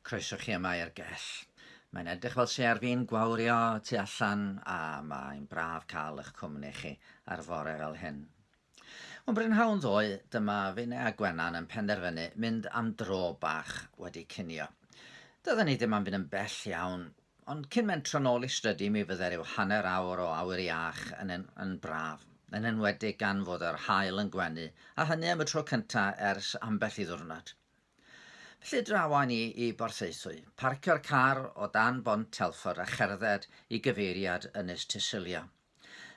Croeso chi yma i'r gell. Mae'n edrych fel se ar fi'n gwawrio tu allan a mae'n braf cael eich cwmni chi ar fore fel hyn. Mae'n brynhawn ddoe, dyma Fine a Gwenan yn penderfynu mynd am dro bach wedi cinio. Dydan ni ddim am fynd yn bell iawn, Ond cyn mynd tro nôl i strydy mi fydde rhyw hanner awr o awyr iach yn yn braf, yn enwedig gan fod yr haul yn gwenu, a hynny am y tro cynta ers ambell i ddiwrnod. Felly drawa ni i Borthaethwy, parcio'r car o dan bont Telford a cherdded i gyfeiriad Ynys Tysilio.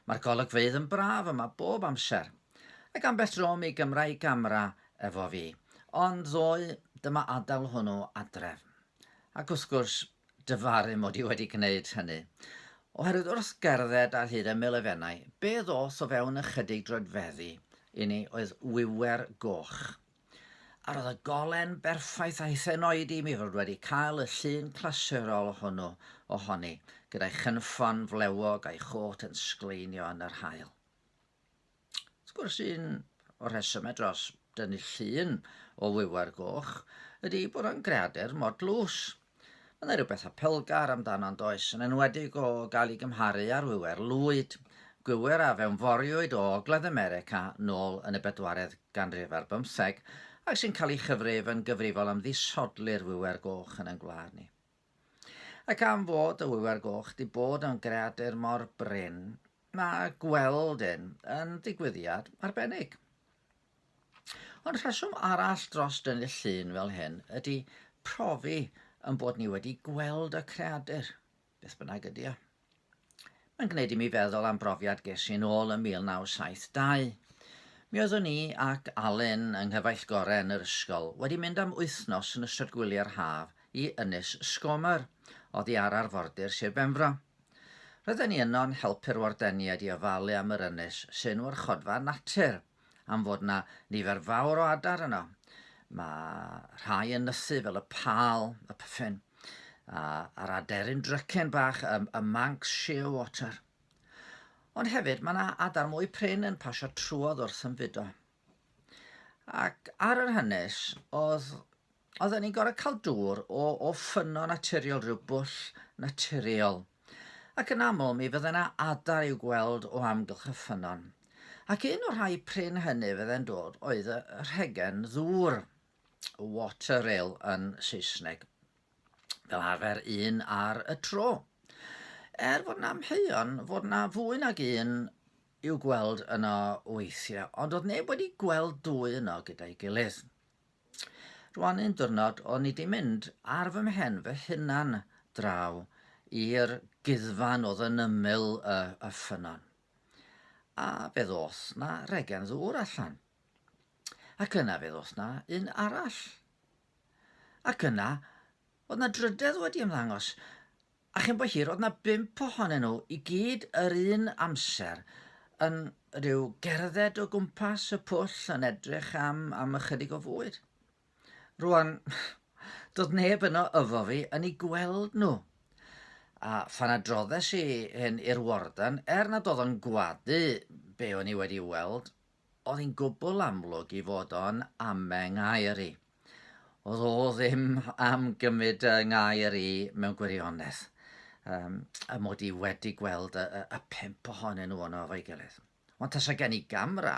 Mae'r golygfeydd yn braf yma bob amser, ac ambell dro mi gymrai gamera efo fi, ond ddoe dyma adael hwnnw adref. Ac wrth gwrs, dyfaru mod i wedi gwneud hynny. Oherwydd wrth gerdded ar hyd ymyl efennau, be ddoth o fewn ychydig droedfeddi i ni oedd wiwer goch, A roedd y golen berffaith a'i phen oedi mi fod wedi cael y llun clasurol hwnnw ohoni, gyda'i chynffon flewog a'i chôt yn sgleinio yn yr haul. Wrth gwrs, un o'r rhesymau dros dynnu llun o wiwer goch ydy bod o'n greadur mor dlws. Mae yna rhywbeth apelgar amdano yn does, yn enwedig o gael ei gymharu â'r wiwer lwyd, gwiwer a fewnforiwyd o Ogledd America nôl yn y bedwaredd ganrif ar bymtheg ac sy'n cael ei chyfrif yn gyfrifol am ddisodli'r wiwer goch yn ein gwlad ni. Ac am fod y wiwer goch di bod yn greadur mor brin, mae gweld un yn ddigwyddiad arbennig. Ond rheswm arall dros dynnu'r llun fel hyn ydy profi yn bod ni wedi gweld y creadur, beth bynnag ydy o. Mae'n gwneud i mi feddwl am brofiad ges i'n ôl ym 1972. Mi oeddwn i ac Alun yng nghyfaill gorau yn yr ysgol wedi mynd am wythnos yn ystod gwyliau'r haf i Ynys Sgomer, oddi ar arfordir Sir Benfro. Roedden ni yno'n helpu'r wardeniaid i ofalu am yr ynys sy'n warchodfa natur. am fod 'na nifer fawr o adar yno. Mae rhai yn nysu fel y pâl, y pyffin, a, a'r aderyn drycen bach, y, y manx shearwater. Ond hefyd mae yna adar mwy prin yn pasio trwodd wrth ymfudo. Ac ar yr hanes, oedd oedden ni'n gorfod cael dŵr o, o ffynno naturiol, rhyw bwll naturiol. Ac yn aml mi fydde yna adar i'w gweld o amgylch y ffynnon. Ac un o'r rhai prin hynny fydde'n dod oedd y rhegen ddŵr, water rail yn Saesneg, fel arfer un ar y tro. Er fod yna amheuon fod yna fwy nag un i'w gweld yno weithiau, ond oedd neb wedi gweld dwy yno gyda'i gilydd. Rwan un diwrnod o'n i 'di mynd ar fy mhen fy hunan draw i'r guddfan oedd yn ymyl y, y ffynnon. A fe ddoth 'na regen ddŵr allan. Ac yna fe ddoth 'na un arall. Ac yna, oedd 'na drydedd wedi ymddangos. A chyn bo hir, o'dd 'na bump ohonyn nhw i gyd yr un amser yn rhyw gerdded o gwmpas y pwll yn edrych am am ychydig o fwyd. Rwan, doedd neb yno yfo fi yn ei gweld nhw. A phan adroddes i hyn i'r warden, er nad oedd o'n gwadu be o'n i wedi weld, Oedd hi'n gwbl amlwg i fod o'n am'engair i. Oedd o ddim am gymryd y ngair i mewn gwirionedd, um, y mod i wedi gweld y, y, y pump ohonyn nhw ono efo'i gilydd. Ond tasa gen i gamra,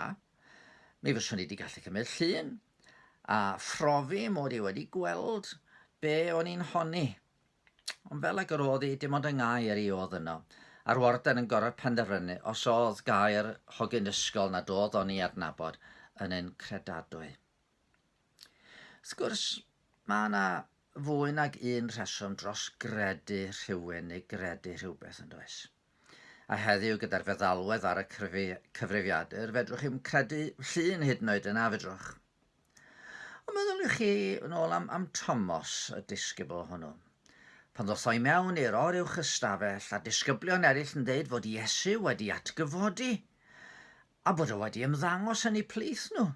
mi fyswn i wedi gallu cymryd llun a phrofi mod i wedi gweld be o'n i'n honni. Ond fel ag yr oedd hi, dim ond yng Ngâer i oedd yno. A'r warden yn gorod penderfynu os oedd Gâer hogyn ysgol nad oedd o'n i adnabod yn un credadwy. Wrth gwrs, mae yna fwy nag un rheswm dros gredu rhywun neu gredu rhywbeth, yn does? A heddiw, gyda'r feddalwedd ar y cyfrifiadur, fedrwch chi'm credu llun hyd yn oed yna, fedrwch? Ond meddyliwch chi yn ôl am, am Tomos, y disgybl hwnnw. Pan ddothoi mewn i'r or uwch ystafell, a disgyblion eraill yn dweud fod Iesu wedi atgyfodi, a bod o wedi ymddangos yn eu plith nhw.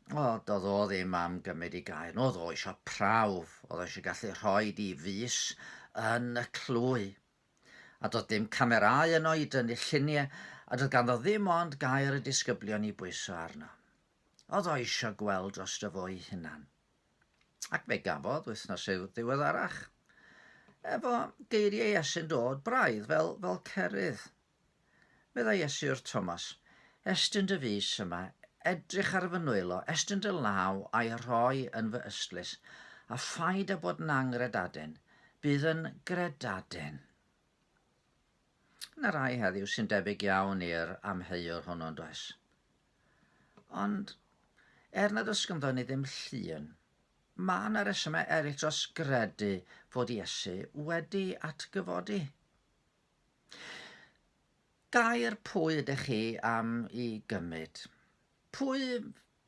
O, doedd o ddim am gymryd ei gair. Oedd o isio prawf, oedd o eisiau gallu rhoi di fus yn y clwy. A doedd dim camerau yno i dynnu lluniau, a doedd ganddo ddim ond gair y disgyblion i bwyso arno. Oedd o isio gweld dros dy fo'i hunan. Ac fe gafodd wythnos i'w ddiweddarach. Efo geiriau Esyn dod braidd fel, fel cerydd. Meddai Iesu wrth Thomas, Estyn dy fys yma, edrych ar fy nwylo, estyn dy law a'i rhoi yn fy ystlys, a phaid â bod yn anghredaden, bydd yn gredaden. Yna rai heddiw sy'n debyg iawn i'r amheuwr hwnnw yn does. Ond er nad oes ganddo ni ddim llun, mae yna resymau eraill dros gredu fod Iesu wedi atgyfodi. Gair pwy ydych chi am i gymryd? Pwy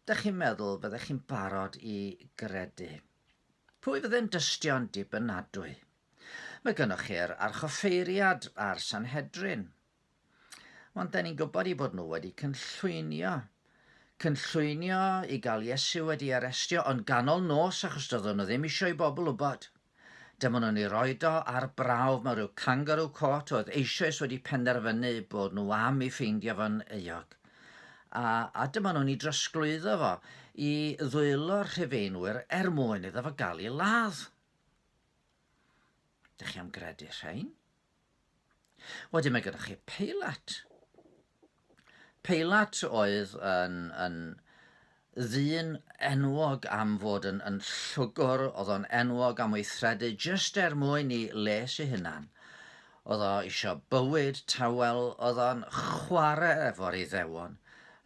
dych chi'n meddwl fyddech chi'n barod i gredu? Pwy fydde'n dystio'n dibynadwy? Mae gynnwch chi'r archoffeiriad a'r Sanhedrin. Ond da ni'n gwybod i bod nhw wedi cynllwynio. Cynllwynio i gael Iesu wedi arestio, ond ganol nos achos doeddwn nhw ddim eisiau i bobl wybod. Dymunwn ni roid o ar brawf mewn rhyw kangaroo court oedd eisoes wedi penderfynu eu bod nhw am ei ffeindio fo'n euog. A, a dymunwn ni drosglwyddo fo i ddwylo'r Rhufeinwyr er mwyn iddo fo gael ei ladd. Dych chi am gredu rhein? Wedyn mae gyda chi Peilat. Peilat oedd yn, yn ddyn enwog am fod yn, yn llwgwr, oedd o'n enwog am weithredu jyst er mwyn i les ei hunan. Oedd o eisiau bywyd tawel, oedd o'n chwarae efo'r iddewon,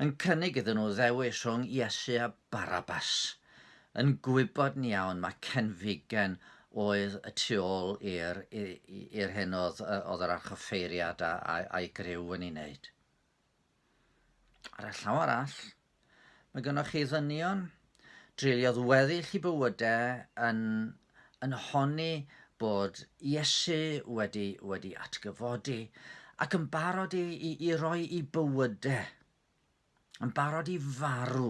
yn cynnig iddyn nhw ddewis rhwng Iesu a Barabas. Yn gwybod yn iawn mae Cenfigen oedd y tu ôl i'r i'r hyn oedd oedd yr archoffeiriad a, a, a'i griw yn ei wneud. Ar y llaw arall, mae gennych chi ddynion dreuliodd weddill i bywydau yn, yn honni bod Iesu wedi, wedi atgyfodi ac yn barod i, i, i roi i bywydau yn barod i farw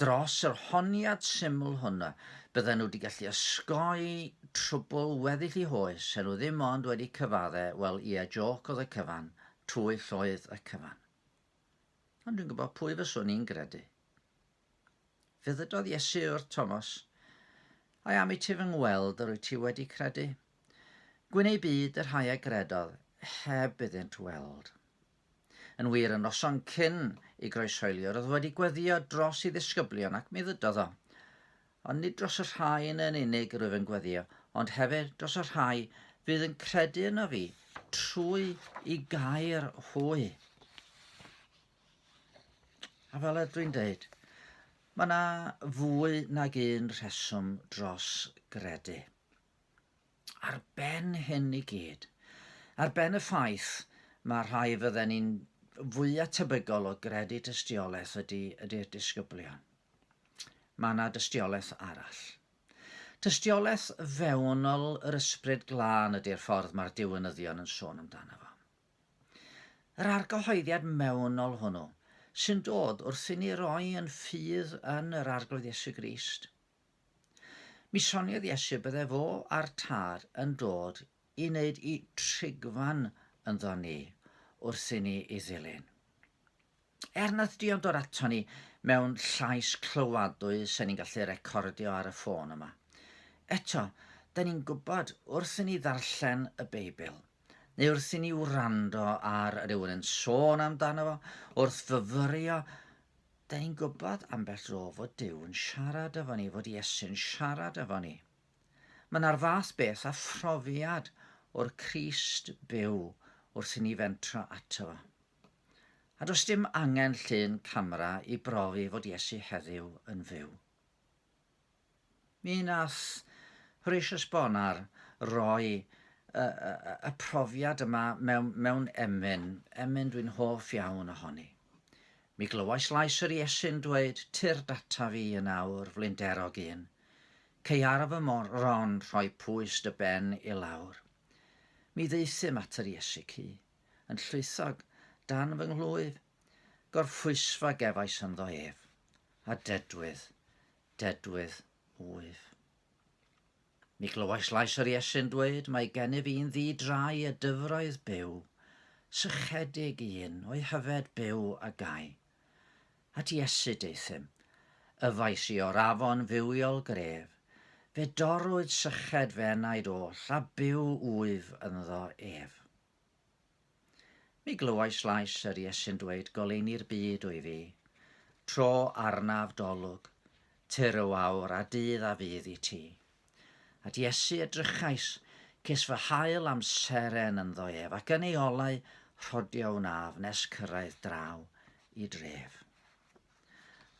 dros yr honiad syml hwn y bydden nhw wedi gallu osgoi trwbl weddill i hoes, er nhw ddim ond wedi cyfadde, wel ie, jôc oedd y cyfan, twyll oedd y cyfan. Ond dwi'n gwybod pwy fyswn i'n gredu. Fe ddydodd Iesu wrth Thomas, Ai am i ti fy ngweld yr wyt ti wedi credu? Gwyn ei byd y rhai a gredodd heb iddynt weld. Yn wir, y noson cyn i groeshoeliwr oedd wedi gweddio dros ei ddisgyblion ac mi ddydodd o. Ond nid dros y rhain yn unig rwyf yn gweddio, ond hefyd dros y rhai fydd yn credu yno fi trwy i gair hwy. A fel ydw i'n dweud, mae yna fwy nag un rheswm dros gredu. Ar ben hyn i gyd, ar ben y ffaith mae rhai fydden ni'n fwyaf tebygol o gredu tystiolaeth ydy ydy'r disgyblion, mae yna dystiolaeth arall. Tystiolaeth fewnol yr Ysbryd Glân ydy'r ffordd mae'r diwinyddion yn sôn amdano fo. Yr argyhoeddiad mewnol hwnnw sy'n dod wrth i ni roi yn ffydd yn yr Arglwydd Iesu Grist, Mi soniodd Iesu bydde fo a'r Tad yn dod i wneud i trigfan ynddo ni wrth i ni i ddilyn. Er nath Dion dod ato ni mewn llais clywadwy se ni'n gallu recordio ar y ffôn yma, eto, da ni'n gwybod wrth i ni ddarllen y Beibl, neu wrth i ni wrando ar rywun yn sôn amdano fo, wrth fyfyrio 'Da ni'n gwybod ambell dro fod Duw yn siarad efo ni, fod Iesu'n siarad efo ni. Mae yna'r fath beth a phrofiad o'r Crist byw wrth i ni fentro ato fo. A does dim angen llun camera i brofi fod Iesu heddiw yn fyw. Mi wnaeth Horatius Bonar roi y profiad yma mewn emyn, emyn dwi'n hoff iawn ohoni. Mi glywais lais yr Iesu'n dweud, Tyrd data fi yn awr, flinderog un. Cei ar fy moron rhoi pwys dy ben i lawr. Mi ddaethum at yr Iesu cu, yn llwythog dan fy nghlwyf, gorffwysfa gefais ynddo ef. A dedwydd, dedwydd wyf. Mi glywais lais yr Iesu'n dweud, Mae gennyf un ddi drai y dyfroedd byw, sychedig un, o'i hyfed byw a gai. At Iesu deuthum. Yfais i o'r afon fywiol gref, fe dorrwyd syched fe enaid oll, a byw wyf ynddo ef. Mi glywais lais yr Iesu'n dweud goleuni'r byd wy fi, tro arnaf dolwg, tyr o awr a dydd a fydd i ti. At Iesu edrychais, ces fy hail am seren ynddo ef, ac yn ei olau rhodio wnaf nes cyrraedd draw i dref.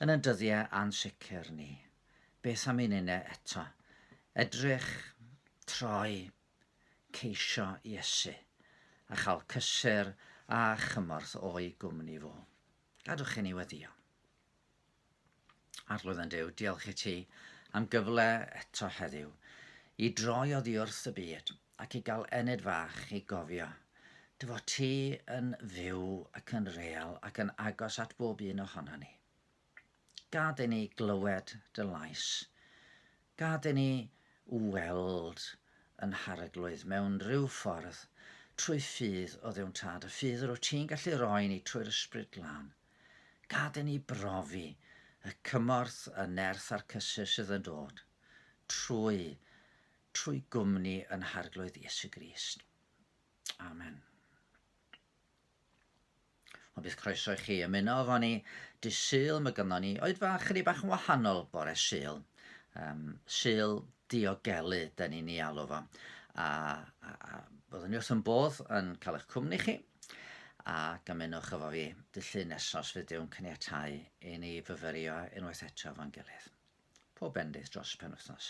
Yn y dyddiau ansicr ni, beth am un une eto, edrych, troi, ceisio Iesu a chael cysur a chymorth o'i gwmni fo. Gadwch i ni weddio. Arglwydd yn Dyw, diolch i ti am gyfle eto heddiw i droi oddi wrth y byd ac i gael enid fach i gofio dy fod ti yn fyw ac yn real ac yn agos at bob un ohono ni. Gad i ni glywed dy lais. Gad i ni weld yn Nh'Arglwydd mewn rhyw ffordd, trwy ffydd o Dduw'n Tad, y ffydd rwyt ti'n gallu roi ni trwy'r Ysbryd Glân. Gad i ni brofi y cymorth, y nerth a'r cysur sydd yn dod trwy, trwy gwmni yn Nh'Arglwydd Iesu Grist. Amen. Ond bydd croeso i chi ymuno efo ni dy Sul, mae gynnon ni oed fach chydig bach yn wahanol bore Sul. Um, sul diogelu, da ni'n ei alw fo. A, a, a byddwn ni wrth yn bodd yn cael eich cwmni chi a gymunwch efo fi dyllu nesos fydd dyw'n caniatau i ni fyfyrio unwaith eto fo'n gilydd. Pob bendith dros penwythnos.